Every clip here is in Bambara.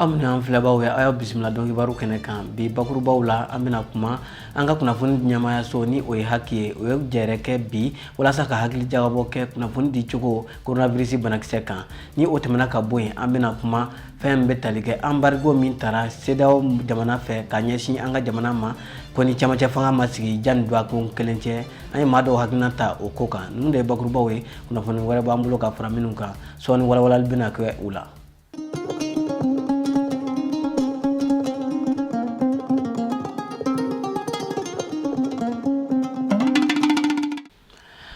aw minnu y'an filɛbaaw ye a y'aw bisimila don kibaru kɛnɛ kan bi bakurubaw la an bɛna kuma an ka kunnafoni ɲɛmaayaso ni o ye haki ye u ye jɛrɛ kɛ bi walasa ka hakili jagabɔ kɛ kunnafoni di cogo coronavirus banakisɛ kan ni o tɛmɛna ka bɔ yen an bɛna kuma fɛn min bɛ tali kɛ anbarigo min tara sedeyawo jamana fɛ ka ɲɛsin an ka jamana ma ko ni camancɛ fanga ma sigi janni dɔgɔkun kelen cɛ an ye maa dɔw hakilina ta o ko kan ninnu de ye bakurubaw ye kunnafoni wɛrɛ b'an bolo ka fara minnu kan sɔɔni walawalali bɛna kɛ u la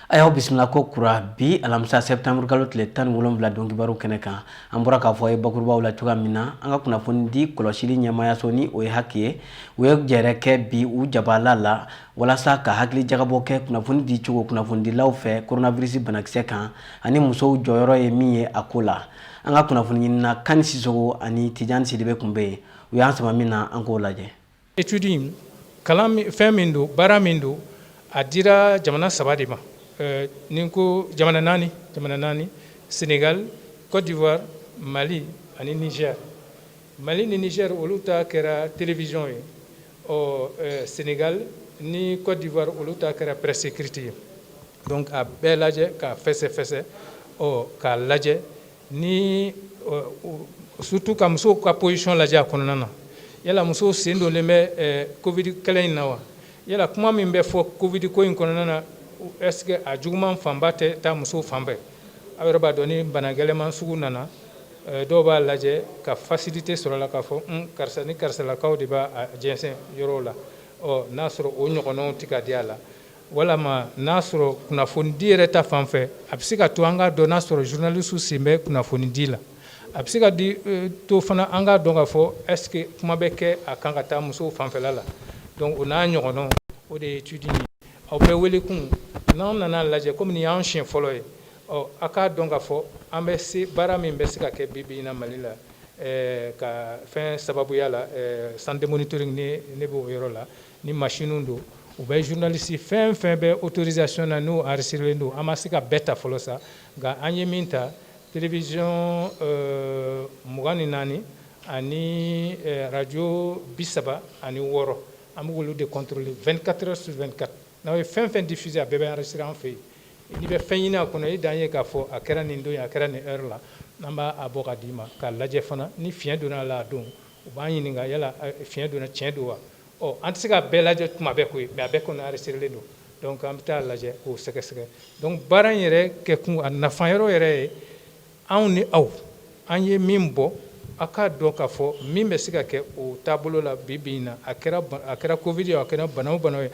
a y'aw bisimila ko kura bi alamisa sɛbtanburu kalo tile tan ni wolonfila don kibaru kɛnɛ kan an bɔra k'a fɔ aw ye bakurubaw la cogoya min na an ka kunnafoni di kɔlɔsili ɲɛmayaso ni o ye haki ye u ye jɛrɛ kɛ bi u jabala la walasa ka hakili jagabɔ kɛ kunnafoni di cogo kunnafonidilaw fɛ koronavirisi banakisɛ kan ani musow jɔyɔrɔ ye min ye a ko la an ka kunnafoni ɲinina kani sisogo ani tijani sidibe kun bɛ yen u y'an sama min na an k'o lajɛ Étude kalan fɛn min don baara min don a dira jamana saba de ma ne ko jamana naani jamana naani Sénégal Côte d'Ivoire mali ani Niger mali ni Niger olu ta kɛra télévision ye ɔ Sénégal ni Côte d'Ivoire olu ta kɛra presse écrite ye donc a bɛɛ lajɛ k'a fɛsɛfɛsɛ ɔ k'a lajɛ ni surtout ka musow ka position lajɛ a kɔnɔna na yala musow sen donlen bɛ covid kɛlɛ in na wa yala kuma min bɛ fɔ covid ko in kɔnɔna na est ce que a juguman fanba tɛ taa musow fan fɛ aw yɛrɛ b'a dɔn ni bana gɛlɛman sugu nana dɔw b'a lajɛ ka facilité sɔrɔ la k'a fɔ un karisa ni karisalakaw de b'a jɛnsɛn yɔrɔw la ɔ n'a sɔrɔ o ɲɔgɔnnaw tɛ ka di a la Walima n'a sɔrɔ kunnafoni di yɛrɛ ta fan fɛ a bɛ se ka to an ka dɔn n'a sɔrɔ journalistew sen bɛ kunnafoni di la a bɛ se ka to fana an ka dɔn k'a fɔ est ce que kuma bɛ kɛ a kan ka taa musow fanfɛla la donc o n'a ɲɔgɔnnaw o de ye étude ye aw bɛɛ wele kun n'an nana lajɛ kɔmi nin y'an siɲɛ fɔlɔ ye ɔ a k'a dɔn ka fɔ an bɛ se baara min bɛ se ka kɛ bi bi in na mali la ka fɛn sababuya la centre de monitoring nin b'o yɔrɔ la Ni machine don u bɛ journaliste fɛn o fɛn bɛ autorisation na n'u enregistrelen don an ma se k'a bɛɛ ta fɔlɔ sa nka an ye min ta télévision mugan ni naani ani radio bi saba ani wɔɔrɔ an bɛ k'olu de contrôler 24 heures sur 24 n'aw ye fɛn o fɛn diffuser a bɛɛ bɛ enregistrer an fɛ yen n'i bɛ fɛn ɲini a kɔnɔ i dan ye k'a fɔ a kɛra nin don ye a kɛra nin heure la an b'a bɔ ka d'i ma k'a lajɛ fana ni fiɲɛ donna a la a don U b'an ɲininka yala fiɲɛ donna tiɲɛ don wa an tɛ se ka bɛɛ lajɛ tuma bɛɛ ko mɛ a bɛɛ kɔnɔ anrezisitirelen don dɔnku an bɛ taa lajɛ k'o sɛgɛsɛgɛ dɔnku baara in yɛrɛ kɛ kun a nafa yɔrɔ yɛrɛ ye anw ni aw an ye min bɔ aw k'a dɔn k'a fɔ min bɛ se ka kɛ o taabolo la bi bi in na a kɛra kovidi ye a kɛra bana o bana ye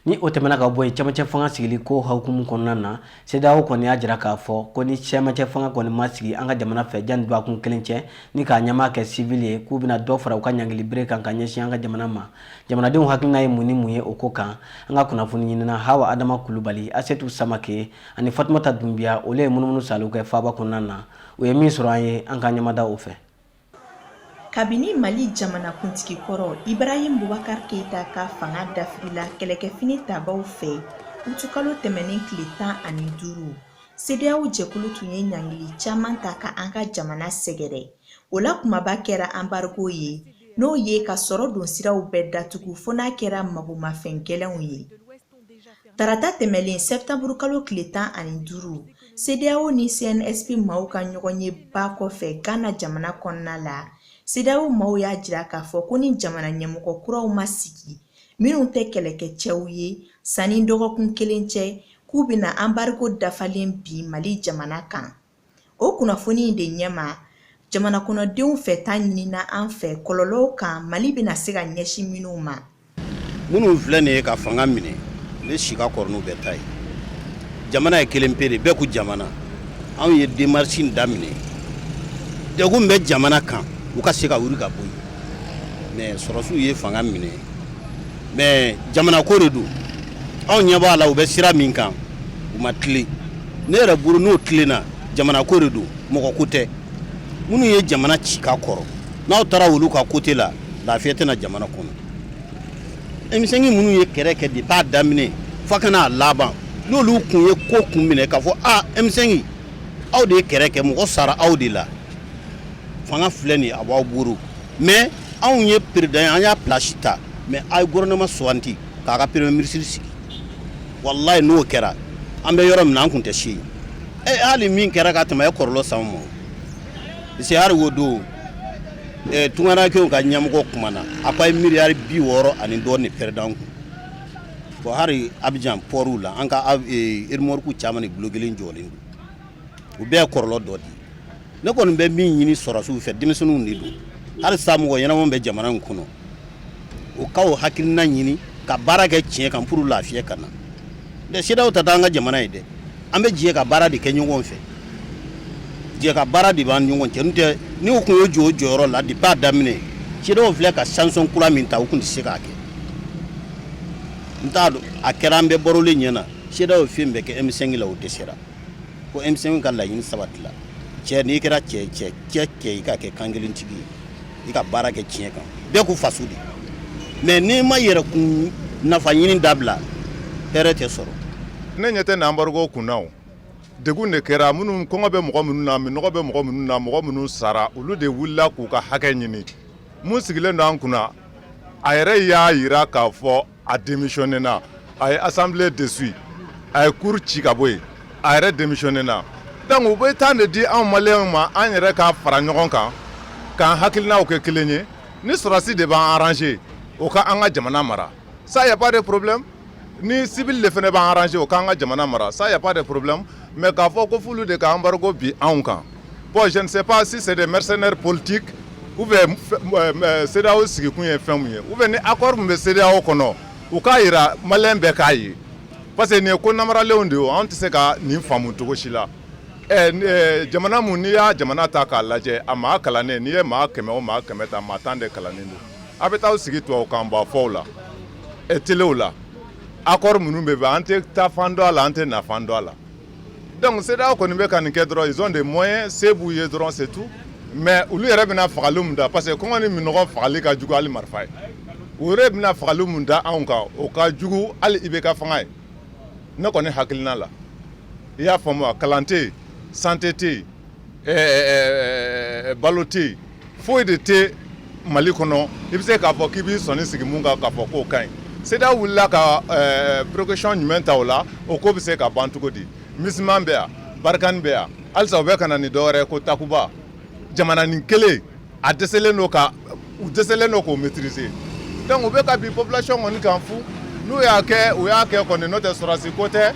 ni o tɛmɛna ka bɔ yen cɛmancɛ fanga sigili ko hukumu kɔnɔna na CEDEAO kɔni y'a jira k'a fɔ ko ni cɛmancɛ fanga kɔni ma sigi an ka jamana fɛ janni dɔgɔkun kelen cɛ ni k'a ɲɛmaa kɛ sivili ye k'u bɛna dɔ fara u ka ɲangili bere kan ka ɲɛsin an ka jamana ma jamanadenw hakilina ye mun ni mun ye o ko kan an ka kunnafoni ɲinina Hawa Adama Kulubali Asetu Samake ani Fatumata Dunbiya olu ye munumunu saalo kɛ faaba kɔnɔna na u ye min sɔrɔ an ye an ka ɲɛmada o fɛ kabini mali jamanakuntigi kɔrɔ ibrahim bubakar keita ka fanga dafirila kɛlɛkɛfini tabaw fɛ utukalo tɛmɛnen tile tan ani duuru sedeyaw jɛkulu tun ye ɲangili caman ta ka an ka jamana sɛgɛrɛ o la kunbaba kɛra anbargo ye n'o ye ka sɔrɔ don siraw bɛɛ datugu fo n'a kɛra magomafɛn gɛlɛnw ye Tarata tɛmɛnlen sɛtanburu kalo tile tan ani duuru CEDEAO ni CNSP maaw ka ɲɔgɔn ye ba kɔfɛ Gana jamana kɔnɔna la CEDEAO maaw y'a jira k'a fɔ ko ni jamana ɲɛmɔgɔ kuraw ma sigi minnu tɛ kɛlɛkɛ cɛw ye sanni dɔgɔkun kelen cɛ k'u bɛna anbargo dafalen bin mali jamana kan o kunnafoni in de ɲɛma jamana kɔnɔdenw fɛta ɲinina an fɛ kɔlɔlɔw kan mali bɛna se ka ɲɛsin minnu ma minnu filɛ nin ye ka fanga minɛ ne si ka kɔrɔ n'u bɛɛ ta ye jamana ye kelen pe de bɛɛ ko jamana anw ye demarisi in daminɛ degun bɛ jamana kan u ka se ka wuli ka bɔ yen mɛ sɔrɔsiw ye fanga minɛ mɛ jamana ko de don anw ɲɛ b'a la u bɛ sira min kan u ma tilen ne yɛrɛ bolo n'o tilenna jamana ko de don mɔgɔ ko tɛ minnu ye jamana ci ka kɔrɔ n'aw taara olu ka kote la lafiya tɛ na jamana kɔnɔ emisɛnki minnu ye kɛrɛ kɛ depi a daminɛ fo ka na a laban n'olu kun ye ko kun minɛ k'a fɔ a emisɛnki aw de ye kɛrɛ kɛ mɔgɔ sara aw de la fanga filɛ nin a b'aw buru mɛ anw ye peresidanya pilasi ta mɛ a ye gofɛrɛnɛman sugandi k'a ka peremiye minisiri sigi walayi n'o kɛra an bɛ yɔrɔ min na an tun tɛ se yen e hali min kɛra ka tɛmɛ ye kɔrɔlɔ sama an ma paseke hali o don tungarankew ka ɲamɔgɔ kumana a ko a ye miliyari bi wɔɔrɔ ani dɔɔnin pɛrɛdi an kun bon hali Abijan pɔri la an ka eremɔriki caman ni bulon kelen jɔlen u bɛɛ ye kɔrɔlɔ dɔ di ne kɔni bɛ min ɲini sɔrɔsiw fɛ denmisɛnninw de don hali sa mɔgɔ ɲɛnama bɛ jamana in kɔnɔ u ka o hakilina ɲini ka baara kɛ tiɲɛ kan pour lafiya ka na dɛ CEDEAO t'an ka jamana ye dɛ an bɛ jɛ ka baara de kɛ ɲɔgɔn fɛ jɛ ka baara de b'an ɲɔgɔn cɛ n'o tɛ ni u tun y'o jɔ o jɔyɔrɔ la depuis a daminɛ CEDEAO filɛ ka sanction kura min ta u tun tɛ se k'a kɛ n t'a dɔn a kɛra an bɛɛ barolen ɲɛna CEDEAO ye fɛn bɛɛ kɛ M5 la o dɛsɛra ko M5 ka laɲini sabatila cɛ n'i kɛra cɛ cɛ cɛ cɛ i ka kɛ kan kelen tigi ye i ka baara kɛ tiɲɛ kan bɛɛ ko faso de mais n'i ma yɛrɛ kun nafa ɲini dabila hɛrɛ tɛ sɔrɔ ne ɲɛ tɛ n'embargo kunna o degun de kɛra minnu kɔngɔ bɛ mɔgɔ minnu na minnɔgɔ bɛ mɔgɔ minnu na mɔgɔ minnu sara olu de wulila k'u ka hakɛ ɲini mun sigilen don an kunna a yɛrɛ y'a jira k'a fɔ a démissionné na a ye assemblée dissout a ye cour ci ka bɔ yen a yɛrɛ démissionné na donc u bɛ temps de di anw maliyɛnw ma an yɛrɛ ka fara ɲɔgɔn kan k'an hakilinaw kɛ kelen ye ni sɔrɔsi de b'an arranger o ka an ka jamana mara ça y a pas de problème ni civil de fana b'an arranger o k'an ka jamana mara ça y a pas de problème mais k'a fɔ ko f'olu de ka embargo bi anw kan Bon, je ne sais pas si c'est des mercenaires politiques ou bien euh, euh, CEDEAO sigikun ye fɛn mun ye ou bien ni accord min bɛ CEDEAO kɔnɔ u k'a jira maliyɛn bɛɛ k'a ye parce que nin ye ko namaralenw de ye anw tɛ se ka nin faamu cogo si la ɛ eh, jamana mun n'i y'a jamana ta k'a lajɛ a maa kalannen n'i ye maa kɛmɛ o maa kɛmɛ ta maa tan de kalannen don a bɛ taa sigi tubabukan ba fɔw la eh, telew la accord minnu bɛ bɛn an tɛ taa fan dɔn a la an tɛ na fan dɔn a la Donc CEDEAO kɔni bɛ ka nin kɛ dɔrɔn ils ont des moyens se b'u ye dɔrɔn c'est tout mais olu yɛrɛ bɛna fagali min da parce que kɔngɔ ni minnɔgɔ fagali ka jugu hali marifa ye u yɛrɛ bɛna fagali min da anw kan o ka jugu hali IBK fanga ye ne kɔni hakilina la i y'a faamu wa kalan tɛ santé tɛ yen ɛɛ balo tɛ yen foyi de tɛ mali kɔnɔ i bɛ se k'a fɔ k'i b'i sɔnni sigi min kan k'a fɔ k'o ka ɲi CEDEAO wulila ka précaution jumɛn ta o la o ko bɛ se ka ban cogo di MINUSMA bɛ yan Barkhane bɛ yan halisa u bɛ ka na ni dɔ wɛrɛ ko takuba jamananin kelen a dɛsɛlen don u dɛsɛlen don k'o maîtriser donc u bɛ ka bi population kɔni kan fu n'u y'a kɛ u y'a kɛ kɔni n'o tɛ sɔrɔdasi ko tɛ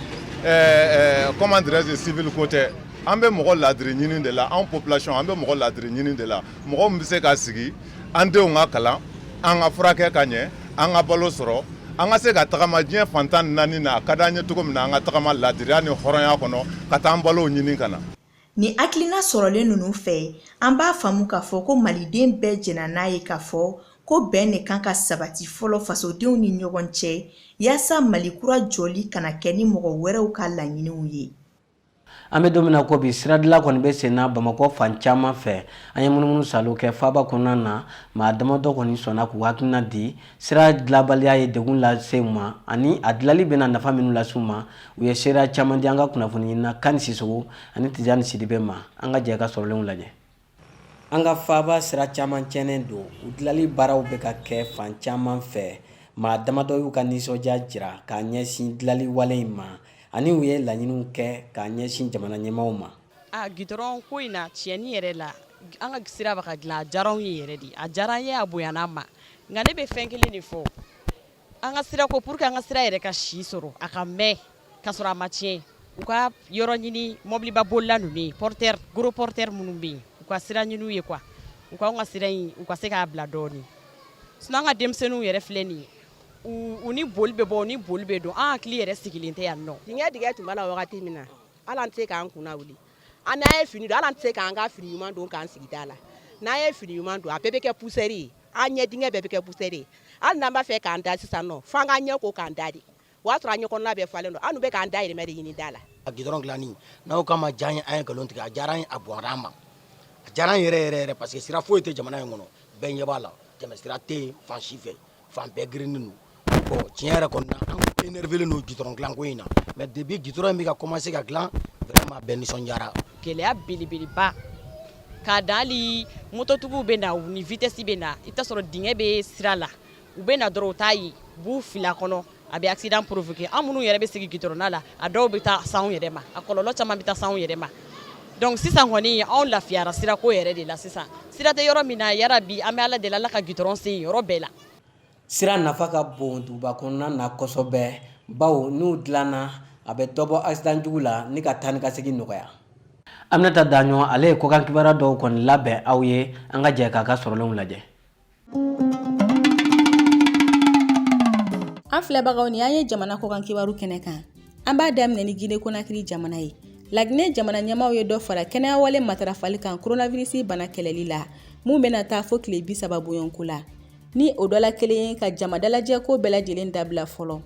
comment dirais-je civil ko tɛ an bɛ mɔgɔ ladiri ɲini de la anw population an bɛ mɔgɔ ladiri ɲini de la mɔgɔ min bɛ se ka sigi an denw ka kalan an ka furakɛ ka ɲɛ an ka balo sɔrɔ an ka se ka tagama diɲɛ fantan naani na a ka d'an ye cogo min na an ka tagama ladiriya ni hɔrɔnya kɔnɔ ka taa an balow ɲini ka na Ni hakilina sɔrɔlen ninnu fɛ, an b'a faamu k'a fɔ ko Maliden bɛɛ jɛnna n'a ye k'a fɔ ko bɛn de kan ka sabati fɔlɔ fasodenw ni ɲɔgɔn cɛ, yaasa Mali kura jɔli kana kɛ ni mɔgɔ wɛrɛw ka laɲiniw ye. an bɛ don min na ko bi siradila kɔni bɛ sen na bamakɔ fan caman fɛ an ye munumunu salo kɛ faaba kɔnɔna na maa damadɔ kɔni sɔnna k'u hakilina di sira dilabaliya ye degun lase u ma ani a dilali bɛna nafa minnu lase u ma u ye seereya caman di an ka kunnafoni ɲinina kani sisogo ani tijani sidibe ma an ka jɛ ka sɔrɔlenw lajɛ An ka faaba sira caman tiɲɛnen don u dilanli baaraw bɛ ka kɛ fan caman fɛ maa damadɔ y'u ka nisɔndiya jira k'a ɲɛsin dilanli wale in ma ani u ye laɲiniw kɛ k'a ɲɛsin jamana ɲɛmaaw ma a gidɔrɔn ko in na tiɲɛni yɛrɛ la an ka sira bɛ ka dilan a diyara an ye yɛrɛ de a diyara an ye a bonyana an ma nka ne bɛ fɛn kelen de fɔ An ka sira ko pour que an ka sira yɛrɛ ka si sɔrɔ a ka mɛn ka sɔrɔ a ma tiɲɛ u ka yɔrɔ ɲini mɔbiliba bolila ninnu ye porteur gros porteur minnu bɛ yen u ka sira ɲini u ye quoi u k'anw ka sira in u ka se k'a bila dɔɔnin sinon an ka denmisɛnninw yɛrɛ filɛ nin ye u ni boli bɛ bɔ u ni boli bɛ don an hakili yɛrɛ sigilen tɛ yan nɔ dingɛ dingɛ tun b'a la wagati min na hali an tɛ se k'an kunna wuli an n'an ye fini don hali an tɛ se k'an ka fini ɲuman don k'an sigi da la n'an ye fini ɲuman don a bɛɛ bɛ kɛ poussière ye an ɲɛ dingɛ bɛɛ bɛ kɛ poussière de ye hali n'an b'a fɛ k'an da sisan nɔ fo an k'an ɲɛ ko k'an da de o y'a sɔrɔ an ɲɛ kɔnɔna bɛɛ falen don an bɛ k'an dahirimɛ de ɲini da la a gidɔrɔn dilanni n'anw k'a ma diya an ye an ye nkalon tigɛ a diyara a bonyara an ma a diyara yɛrɛ yɛrɛ yɛrɛ parce que sira foyi tɛ jamana in kɔnɔ bɛɛ ɲɛ b'a la tɛmɛ sira tɛ yen fan si fɛ fan bɛɛ gerennen don Bon tiɲɛ yɛrɛ kɔni na an tun énervélen don goudron dilan ko in na mais depuis goudron in bɛ ka commencer ka dilan vraiment bɛɛ nisɔndiyara. Gɛlɛya belebeleba k'a dan hali mototigiw bɛ na u ni vitesse bɛ na i bɛ t'a sɔrɔ dingɛ bɛ sira la u bɛ na dɔrɔn u t'a ye u b'u fili a kɔnɔ a bɛ accident provoquer an minnu yɛrɛ bɛ sigi goudron da la a dɔw bɛ taa s'anw yɛrɛ ma a kɔlɔlɔ caman bɛ taa s'anw yɛrɛ ma donc sisan kɔni anw lafiyara sirako yɛrɛ de la sisan sira tɛ yɔrɔ min na yarabi an bɛ Ala deli Ala ka goudron se yen yɔrɔ bɛɛ la. Sira nafa ka bon duguba kɔnɔna na kosɛbɛ bawo n'u dilanna a bɛ dɔ bɔ accident jugu la ni ka taa ni ka segin nɔgɔya aminata daɲɔ ale ye kɔkan kibaruya dɔw kɔni labɛn aw ye an ka jɛ k'a ka sɔrɔlenw lajɛ an filɛbagaw ni an ye jamana kɔkan kibaru kɛnɛ kan an b'a daminɛ ni gine konakiri jamana ye laginɛ jamana ɲɛmaaw ye dɔ fara kɛnɛyawale matarafali kan koronavirisi bana kɛlɛli la min bɛna taa fo tile bi saba bonyɔnko la ni o dɔ la kelen ye ka jama dalajɛ ko bɛɛ lajɛlen dabila fɔlɔ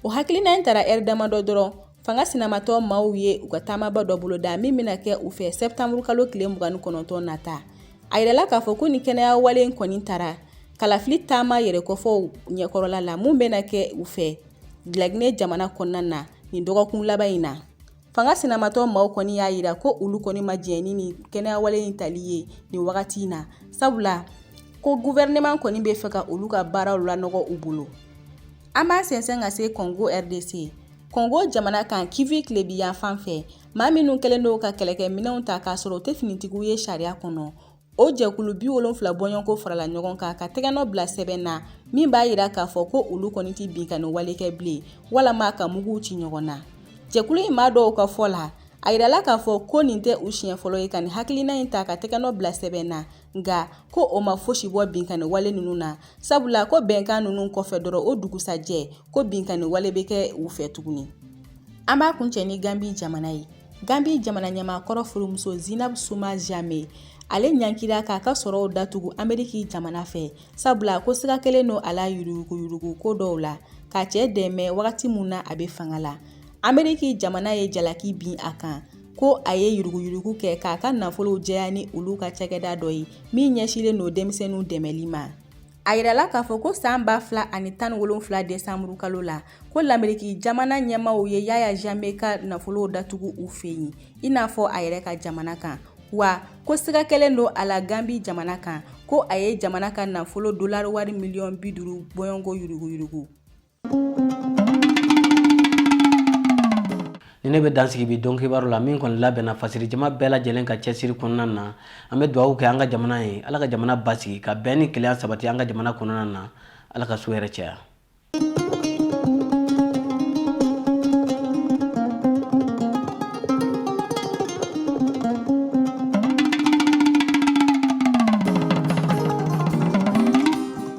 o hakilina in tara ɛri damadɔ dɔrɔn fanga sinamatɔn maaw ye u ka taamaba dɔ bolo da min bɛna kɛ u fɛ sɛtanburu kalo tile mugan ni kɔnɔntɔn nata a yirala k'a fɔ ko ni kɛnɛya wale in kɔni tara kalafili taama yɛrɛ kɔfɔ ɲɛkɔrɔla la min bɛna kɛ u fɛ laginɛ jamana kɔnɔna na nin dɔgɔkun laban in na Fanga sinamatɔ maaw kɔni y'a jira ko olu kɔni ma jɛn ni nin kɛnɛyawale in tali ye nin wagati in na sabula ko gɔfɛrɛnaman kɔni bɛ fɛ ka olu ka baaraw lanɔgɔ u bolo an b'a sɛnsɛn ka se Kongo RDC Kongo jamana kan Kivu tilebinyanfan fɛ maa minnu kɛlen don ka kɛlɛkɛminɛnw ta k'a sɔrɔ u tɛ finitigiw ye sariya kɔnɔ o jɛkulu bi wolonfila bɔɲɔgɔnko farala ɲɔgɔn kan ka tɛgɛnɔ bila sɛbɛn na min b'a yira k'a fɔ ko olu kɔni tɛ binkanni wale kɛ bilen walama ka muguw ci ɲɔgɔn na jɛkulu in maa dɔw ka fɔ la a yirala k'a fɔ ko nin tɛ u siɲɛ fɔlɔ ye ka nin hakilina in ta ka tɛgɛnɔ bila sɛbɛn na nka ko o ma fosi bɔ binkanni wale ninnu na sabula ko bɛnkan ninnu kɔfɛ dɔrɔn o dugusajɛ ko binkanni wale bɛ kɛ u fɛ tuguni an b'a kuncɛ ni ganbi jamana ye Gambie jamana ɲɛmaakɔrɔ furumuso Zinab Suma Jame ale ɲankira k'a ka sɔrɔw datugu Ameriki jamana fɛ sabula ko siga kɛlen don a la yuruguyurugu ko dɔw la k'a cɛ dɛmɛ wagati mun na a bɛ fanga la Ameriki jamana ye jalaki bin a kan ko a ye yuruguyurugu kɛ k'a ka nafolow jɛya ni olu ka cakɛda dɔ ye min ɲɛsilen don denmisɛnninw dɛmɛli ma A yirala k'a fɔ ko san ba fila ani tan ni wolonwula desanburu kalo la ko Lameriki jamana ɲɛmaaw ye Yaya Jame ka nafolo datugu u fɛ yen i n'a fɔ a yɛrɛ ka jamana kan wa ko siga kɛlen don a la ganbi jamana kan ko a ye jamana ka nafolo dolari wari miliyɔn bi duuru bɔɲɔgɔnko yuruguyurugu nin de bɛ dan sigi bi don kibaru la min kɔni labɛnna fasiri jama bɛɛ lajɛlen ka cɛsiri kɔnɔna na an bɛ dugawu kɛ an ka jamana ye ala ka jamana basigi ka bɛn ni kelenya sabati an ka jamana kɔnɔna na ala ka su hɛrɛ caya